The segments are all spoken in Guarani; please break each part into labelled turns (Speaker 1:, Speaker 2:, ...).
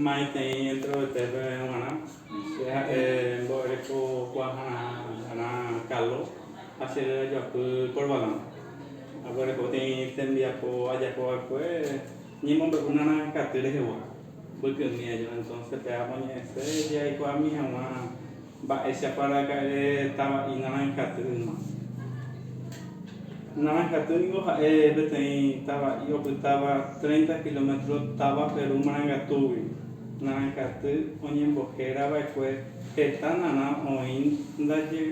Speaker 1: Maitei introvertépe g̃uarã, che ha'e mbo'erekokuaahára kálo ha che réra joapy korvalán. Aguereko tei tembiapo ajapo va'ekue ñemombe'únarã katy rehegua, mbykymi aja. Entónse pe amoñe'ẽse jaikuaami hag̃ua. Mba'éichapa raka'e tava'i naranjatýrima? Naranjatý niko ha'e peteĩ tava'i opytáva treinta kilómetro táva Perú marangatúgui. Naranjaty oñembohéra va'ekue heta narã oĩ ndaje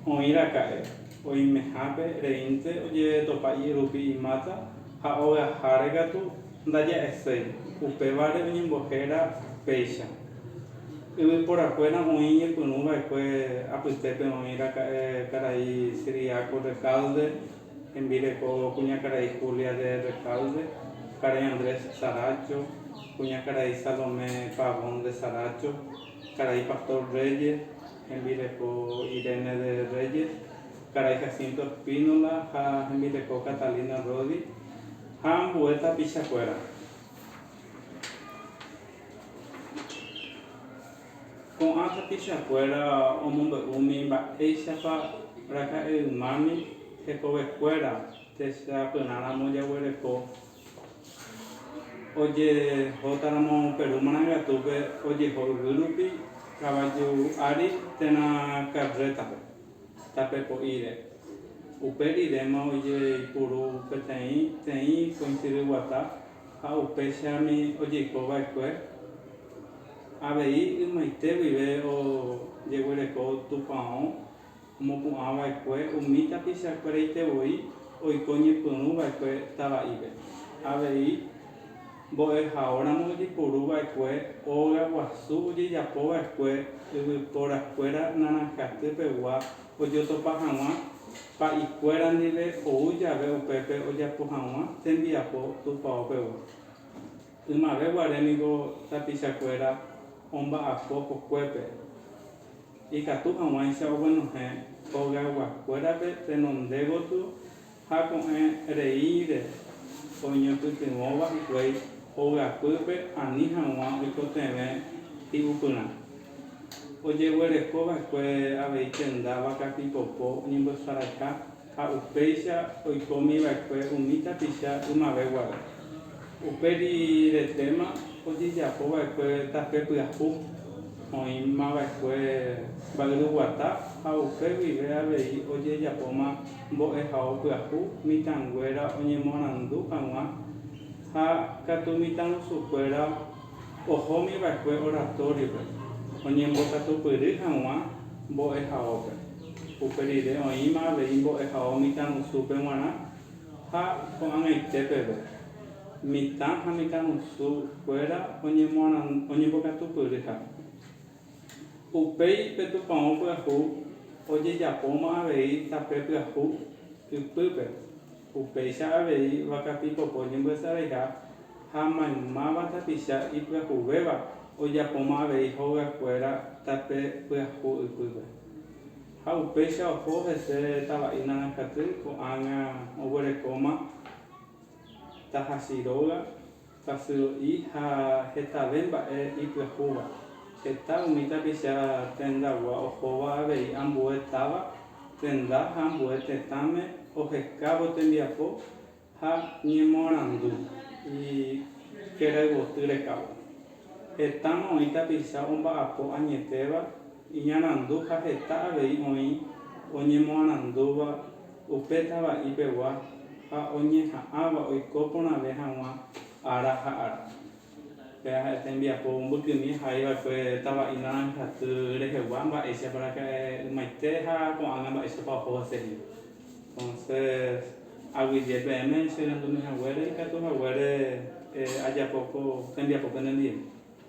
Speaker 1: oĩ raka'e, oimehápe reínte ojeretopa i'rupi imáta ha ogaháre katu Ndaja'eséi, upévare oñembohéra péicha. Yvyporakuéra oĩ ñepyrũ va'ekue apytépe oĩ raka'e karai Cyriaco Recalde hembireko kuñakarai Julia de Recalde, karai Andrés Saracho, kuñakarai Salomé Pavón de Saracho, karai Pastor Reyes, hembireko Irene de Reyes, karai Jacinto Espínola ha hembireko Catalina Rodi, Ha ambue tapicha kuéra. Ko'ã tapicha kuéra omombe'úmi mba'éichapa raka'e ymámi hekove kuéra techapyrã ramo jaguereko ojehóta ramo Perú marangatupe ojeho yvy rupi kavaju ári térã carrétape. Tape po'íre. Upe riréma ojeipuru peteĩ teĩ koinsidy guata ha upéichami ojeiko vaekue, avei ymaite guive ojeguereko tupão omopu'ã vaekue umi tapicha kueraite voi oiko ñepyrũ vaekue tava'ive. Avei. Mbo'ehaóramo ojepuru va'ekue óga guasu ojejapo va'ekue yvyporakuéra Naranjaty pegua ojotopa haguã pa'ikuéra ndive ou jave upépe ojapo haguã tembiapo tupao pegua. Ymave guare niko tapichakuéra omba'apo kokuépe. Ikatu haguãicha oguenohẽ óga guakuérape tenonde gotyo Ha ko'ẽ reíre oñepytyvõva hikuái ovy'apýpe ani hag̃ua oikotevẽ hi'upyrã. Ojeguereko va'ekue avei tenda vaka pipopo oñemboesaraiha ha upéicha oikómi va'ekue umi tapicha ymave guare. Upe riretéma ojejapo va'ekue tape pyahu, oĩma va'ekue mba'yruguata ha upe guive avei ojejapóma Mbo'ehao pyahu mitãnguéra oñemorandu hag̃ua ha katu mitãrusukuéra ohómi va'ekue oratóripe oñembokatupyry hag̃ua mbo'ehaópe. Upe rire oĩma avei mbo'ehao mitãrusúpe g̃uarã ha ko'ag̃aite peve, mitã ha mitãrusukuéra oñembokatupyryha. Upéi pe tupão pyahu ojejapóma avei tape pyahu ypýpe, upéicha avei vaka pipoko ñembyasaveiha ha maymáva tapicha ipyahuvéva ojapóma avei hogakuéra tape pyahu ypýpe. Ha upéicha oho hese tava'i naranjaty ko'ág̃a oguerekóma tahasy róga. kasyro'i ha hetave mba'e ipyahúva. Heta umi tapicha tendagua ohóva avei ambue táva, tenda ha ambue tetãme ohekávo tembiapo ha ñemoarandu ikerayvoty rekávo. Hetáma oĩ tapicha omba'apo añetéva, iñarandu ha heta avei oĩ oñemoarandúva upe tava'i pegua ha oñeha'ãva oiko porãve hag̃ua ára ha ára. Péva ha'e tembiapo mbykymi ahai va'ekue tava'i naranjaty rehegua mba'éichapa raka'e ymaite ha ko'ág̃a mba'éichapa oho hese hína. Entonces aguyje peẽme che rendumi haguére ikatu haguére ajapo ko tembiapo pende ndive.